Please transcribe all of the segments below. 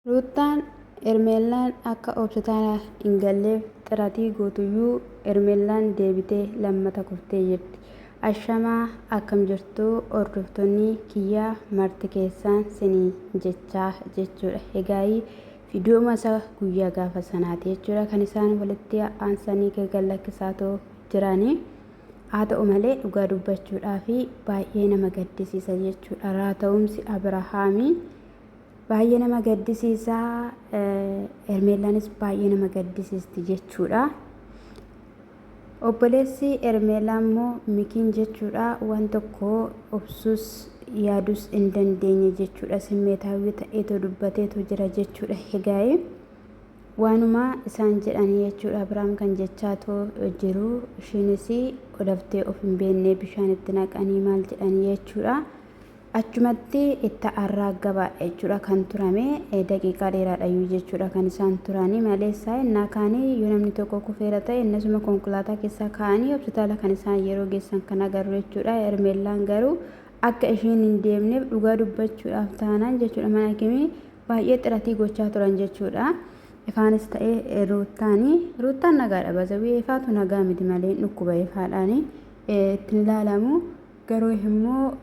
Ruuttaan Hermeellaan akka obsitaala hin galleef xiratii gootuyyuu Hermeellaan deebitee lammata kuftee jirti. Ashamaa akkam jirtuu hordoftonnii kiyyaa marti keessaan sinii jechaa jechuudha. Egaai vidiyooma isa guyyaa gaafa sanaati jechuudha kan isaan walitti aansanii gaggan lakkisaatoo jiraanii. Haa ta'u malee dhugaa dubbachuudhaa fi baay'ee nama gaddisiisa jechuudha. Raata'umsi Abirahaamii Baay'ee nama gaddisiisa. Ermeellaanis baay'ee nama gaddisiisti jechuudha. Obboleessi Ermeellaa immoo mikiin jechuudha waan tokko obsuus yaaduus hin dandeenye jechuudha. Simmeetaawwi ta'eetoo dubbateetoo jira jechuudha. Hegaa'ee waanuma isaan jedhanii jechuudha Abiraam kan jechaatoo jiru ishiinis olaftee of hin beekne bishaan itti naqanii maal jedhanii jechuudha. Achumatti itti arraaggaba jechuudha kan turame daqiiqaa dheeraadhayyuu jechuudha kan isaan turani maleessaa innaa kaanii yoo namni tokko kufeera ta'e innasuma konkolaataa keessaa kaa'anii hospitaala kan isaan yeroo geessan kan agarru jechuudha hermeellaan garuu akka ishiin hin deemneef dhugaa dubbachuudhaaf taanaan jechuudha mana akimii baay'ee xiratii gochaa turan jechuudha. Ifaanis ta'ee ruuttaanii ruuttaan nagaadha bazawii ifaatu nagaa miti malee dhukkuba ifaadhaanii ittiin ilaalamu Garuu immoo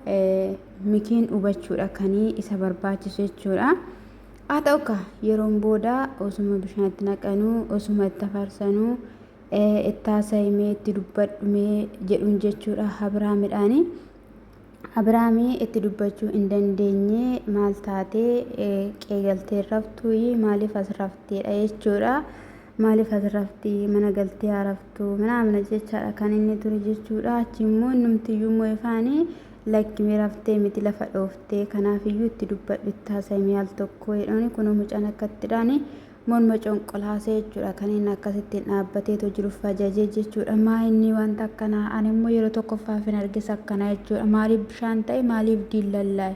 Mikiin hubachuudha kan isa barbaachisu jechuudha. Haa ta'u akka yeroon booda osuma bishaan itti naqanuu osuma itti afarsanuu itti haasa'imee itti dubbadhumee jedhuun jechuudha Abiraamidhaani. Abiraamii itti dubbachuu hin dandeenye maal taatee qeegaltee raftuuyi maaliif as rafteedha jechuudha. Maaliif as rafti, mana galtee haa raftu, manaamna jechaadha kan inni ture jechuudha. Achi immoo innumtiyyuu immoo ifaanii lakki mee raftee miti lafa dhooftee kanaafiyyuu itti dubbadhu itti haasa'e mee al tokko jedhanii kunoo mucaan akkattidhaani morma conqolaasee jechuudha kan inni akkasittiin dhaabbateetoo jiruuf ajajee jechuudha. Maa inni wanta akkanaa ani immoo yeroo tokkoffaaf hin argis akkanaa jechuudha. Maaliif bishaan ta'e maaliif diillallaa'e?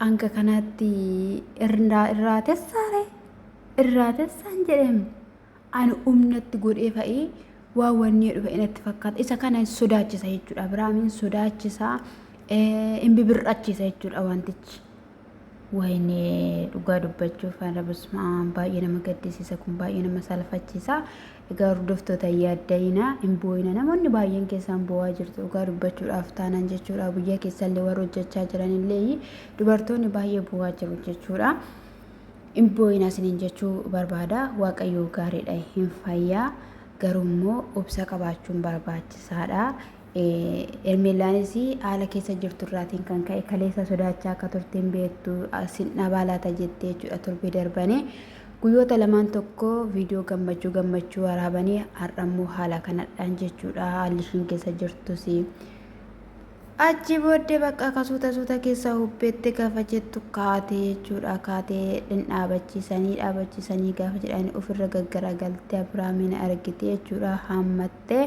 Hanga kanatti irraa irraa tessaaree irraa tessaan jedheem ani humnatti godhee fa'ii waa wannee dhufe inatti fakkaata isa kana hin sodaachisa jechuudha abiraamiin sodaachisa hin bibir'achiisa jechuudha wantichi. Wayne dhugaa dubbachuuf har'a busmaan baay'ee nama gaddisiisa kun baay'ee nama salfachiisa Egaa hordoftoota hin yaadda'inaa, hin boo'ina. Namoonni baay'een keessaan boo'aa jirtu dhugaa dubbachuudhaaf taanaan jechuudha. Biyya keessallee warri hojjechaa jiranillee dubartoonni baay'ee boo'aa jiru jechuudha. Hin boo'ina isiniin jechuu barbaada. Waaqayyoo gaariidha hin fayyaa. Garuu immoo obsa qabaachuun barbaachisaadha. Hermeellaanis haala keessa jirtu irraatiin kan ka'e kaleessa sodaachaa akka turte hin beektu sin dhabaa laata jettee jechuudha torbee darbane. Guyyoota lamaan tokko viidiyoo gammachuu gammachuu waraabanii har'a immoo haala kanadhaan jechuudha haalli ishiin keessa jirtus. Achi booddee bakka akka suuta suuta keessa hubbeetti gaafa jettu kaatee jechuudha kaatee hin dhaabachiisanii dhaabachiisanii gaafa jedhanii ofirra gaggaragaltee Abiraamiin argite jechuudha hammattee.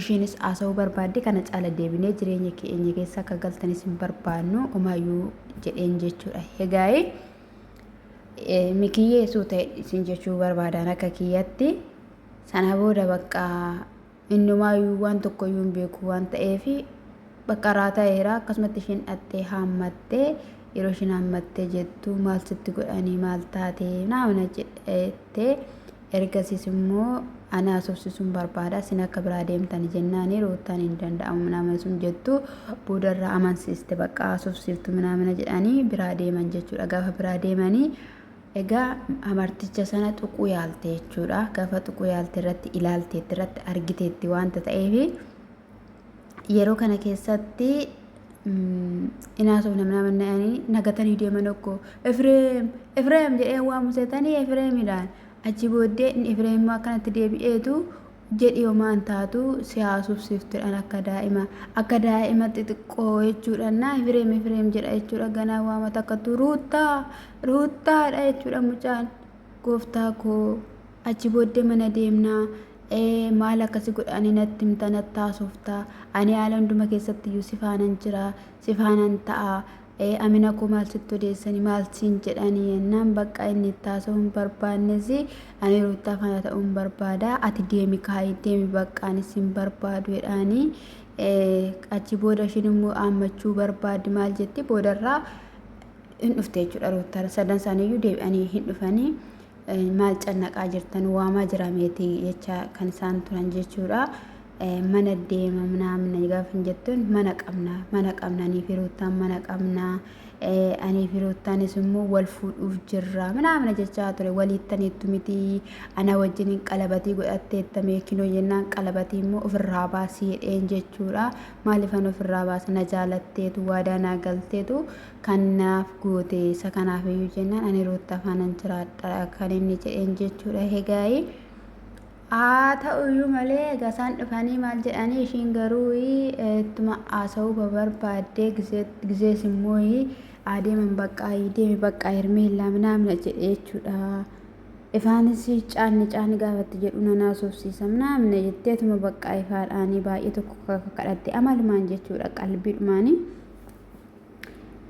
Ishiinis haasawuu barbaaddi. Kana caala deebinee jireenya keenya keessa akka galtanis hin barbaannu umaayyuu jedheen jechuudha. Egaa mikiyyee suu ta'e isin jechuu barbaadaan akka kiyyatti sana booda bakka innumaayyuu waan tokkoyyuu hin beeku waan ta'eef bakka irraa ta'eera akkasumatti ishiin dhattee haammattee yeroo ishiin haammattee jettu maal sitti godhanii maal taatee naamna jettee Ergasiis immoo, Ani haasofsiisuun barbaada, isin akka biraa deemtani jennaani Ruuttaan hin danda'amu minaamina sun jettu booda irraa amansiiste. Baqqaa haasofsiiftu minaamina jedhanii biraa deeman jechuudha. Gaafa biraa deemanii egaa amarticha sana tuquu yaalte jechuudha. Gaafa tuquu yaalte irratti ilaalteetti irratti argiteetti wanta ta'eefi yeroo kana keessatti inaasuuf namni amanna'anii nagatanii deeman okko Efreem Efreem jedhee waamu seetanii Efreemidhaan achi booddee inni Efreem immoo akkanatti deebi'eetu jedhi homaan taatu si haasuuf siftidhaan akka daa'ima akka daa'ima xixiqqoo jechuudhaan naa Efreem Efreem jedha jechuudha ganaa waama takkatu ruuttaa ruuttaadha jechuudha mucaan gooftaa koo achi booddee mana deemnaa Ee, maal akka si godhe ani natti himta, natti haasofta. Ani haala hunduma keessatti iyyuu si faanan jira, si faanan ta'a. Ee, amina koo maal sitti odeessani, maal siin jedhani jennaan bakka inni itti haasa'uu hin barbaannes ani Ruuttaa faana ta'uun barbaada. Ati deemi kaa'i, deemi bakka ani sin barbaadu jedhaani. Achi booda ishiin immoo aammachuu barbaaddi maal jetti boodarraa hin dhufte jechuudha Ruuttaa. Sadan isaaniiyyuu deebi'anii hin dhufanii. maal cannaqaa jirtan waamaa jira meeti jecha kan isaan turan jechuudha. Mana deema naamna gaafa hin jettuun mana qabna mana qabna anii fi ruuttaan mana qabna anii fi ruuttaanis immoo wal fuudhuuf jirra naamna jechaa ture waliittaniittu miti ana wajjin qalabatii godhatteetta meekinoo jennaan qalabatii immoo ofirraa baasii jedheen jechuudha. Maaliifan ofirraa baasa na jaalatteetu waadaa naa galteetu Kan naaf goote isa kanaafiyyuu jennaan ani Ruuttaa faanan jiraadha kan inni jedheen jechuudha hegaayi. Haa ta'uyyuu malee egaa isaan dhufanii maal jedhanii ishiin garuu ittuma haasa'uu barbaaddee gizees immoo adeeman baqqaa deemi baqqaa hermeellaa minaamna jedhee jechuudha. Ifaanis caanni caanni gaafatti jedhu nan haasofsiisa minaamna jetteetuma baqqaa ifaadhaanii baay'ee tokko kadhatte amalumaan jechuudha qalbiidhumaanii.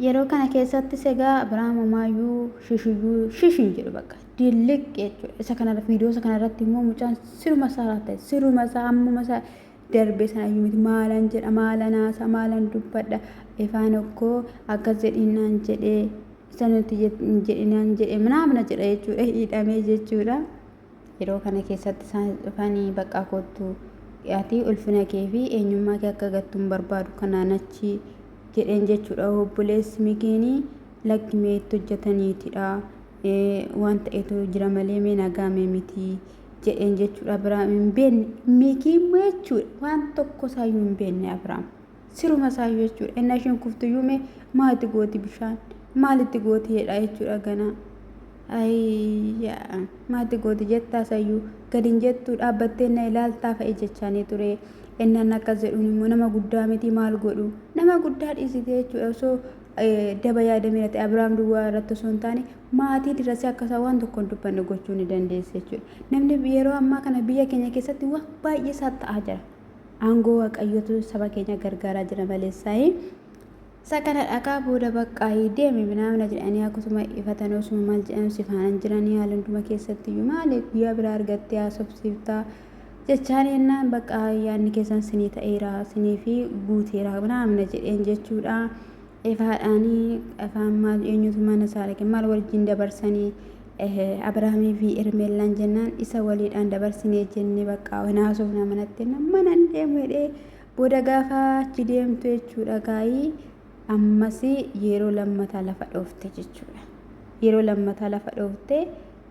Yeroo kana keessattis egaa Abiraam homaayyuu shishiyyuu shishi hin jedhu bakka dilliq jechuudha. Isa kana viidiyoo isa kanarratti immoo mucaan siruma isaa irraa ta'e siruma isaa ammuma isaa darbe sana iyyuu miti maalan jedha maalan haasa maalan dubbadha ifaan okkoo akkas jedhinaan jedhee isa nuti jedhinaan jedhe manaamna jedha jechuudha hidhamee jechuudha. Yeroo kana keessatti isaanis dhufanii, Baqaa koottu, ati ulfina kee fi eenyummaa kee akka gattu hin barbaadu, kanaan achi jedheen jechuudha. Obboleessi Mikiin lakki mee itti hojjetaniitidha, waan ta'etu jira malee mee nagaa mee miti jedheen jechuudha. Abiraam hin beekne, Mikiin jechuudha waan tokko isaayyuu hin beekne Abiraam. siruma isaayyuu jechuudha enna ishiin kuftuyyuu mee maalitti gooti bishaan maalitti gooti jedha jechuudha ganaa ayyaa maalitti gooti jettaa isayyuu gadi hin jettuu dhaabbattee enna ilaaltaa fa'i jechaanii ture ennaan akkas jedhuun immoo nama guddaa miti maal godhu nama guddaa dhiisitee jechuudha osoo daba yaadamee irratti abiraam duwwaa irratti osoo hin taane maatii dirrasi akkasaa waan tokko hin dubbanne gochuu ni dandeessi jechuudha namni yeroo ammaa kana biyya keenya keessatti waan baay'ee isaa ta'aa jira Aangoo waaqayyootu saba keenya gargaaraa jira maleessaayi. Isa kana dhagaa booda baqqaayi deemi minaamina jedhanii akkasuma ifatan osuma maal jedhan si faanan jiranii haala hunduma keessatti iyyuu maali guyyaa biraa argattee haasofsiiftaa jechaan yennaan bakka yaadni keessan sinii ta'eera sinii fi guuteera minaamina jedheen jechuudha. Ifaadhaanii afaan maal eenyutu mana isaa dhaqe maal wajjin dabarsanii Ehe Abrahami fi Ermellan jennan isa waliidhaan dabarsine jenne bakka hin haasofna manatti jennan mana hin deemu jedhee booda gaafa achi deemtu jechuudha gaa'ii ammas yeroo lammataa lafa dhoofte jechuudha. Yeroo lammataa lafa dhoofte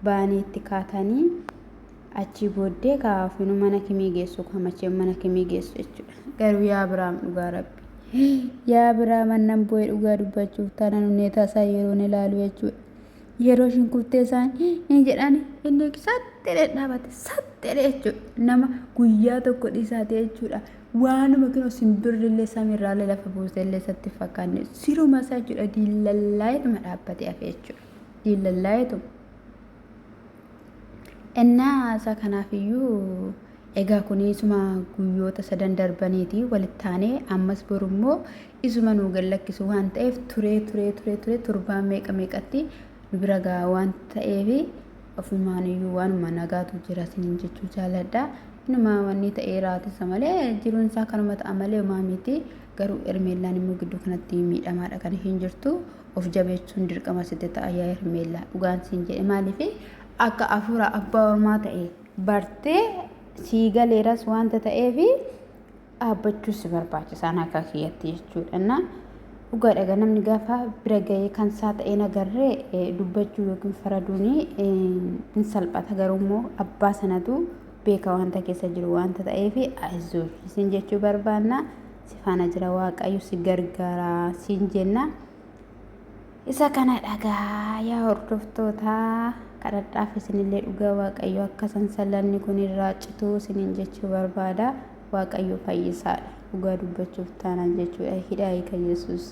baanii itti kaatanii achii booddee kaafinu mana kimii geessu kamachee mana kimii geessu jechuudha. Garuu yaa Abrahaam dhugaa rabbi. Yaa Abrahaam annan boo'ee dhugaa dubbachuuf taanaan huneetaa isaa yeroon ilaalu jechuudha. Yeroo ishiin kuftee isaan hin jedhaan inni saxxedhee dhaabate saxxedhee jechuudha nama guyyaa tokko dhiisaatee jechuudha waanuma kinoo simbirrillee samiirraallee lafa buusellee isatti fakkaanne siruma isaa jechuudha diillallaayetuma dhaabbatee hafe jechuudha diillallaayetuma. Innaa isaa kanaafiyyuu Egaa kun isuma guyyoota sadan darbaniiti walitti aanee ammas boru immoo isuma nuu gad lakkisu waan ta'eef turee turee turee turee torbaan meeqa meeqatti nu bira ga'a waan ta'eef ofumaan iyyuu waanuma nagaatu jira isiniin jechuu jaaladha. Inumaa wanni ta'ee raatisa malee jiruun isaa kanuma ta'a malee homaa miti garuu Hermeellaan immoo gidduu kanatti miidhamaadha kan isheen jirtu of jabeessuun dirqama sitti ta'a yaa Hermeellaa dhugaan siin jedhe maaliif akka afuura abbaa ormaa ta'e barte sii galeeras wanta ta'eef dhaabbachuu si barbaachisaan akka kiyyatti jechuudha. Na dhugaadha egaa namni gaafa bira ga'ee kan isaa ta'ee nagarree eh, dubbachuu yookiin faraduun hin salphata garuu immoo abbaa sanatu beeka wanta keessa jiru wanta ta'eef ayizoo isin jechuu barbaanna si faana jira waaqayyo si gargaara siin jenna. Isa kana dhagaa yaa hordoftootaa kadhadhaaf isinillee dhugaa Waaqayyo akka sansallanni kun irraa cituu isiniin jechuu barbaada. Waaqayyo fayyisaadha. Dhugaa dubbachuuf taanaan jechuudha. Hidhaa hiika Yesuus.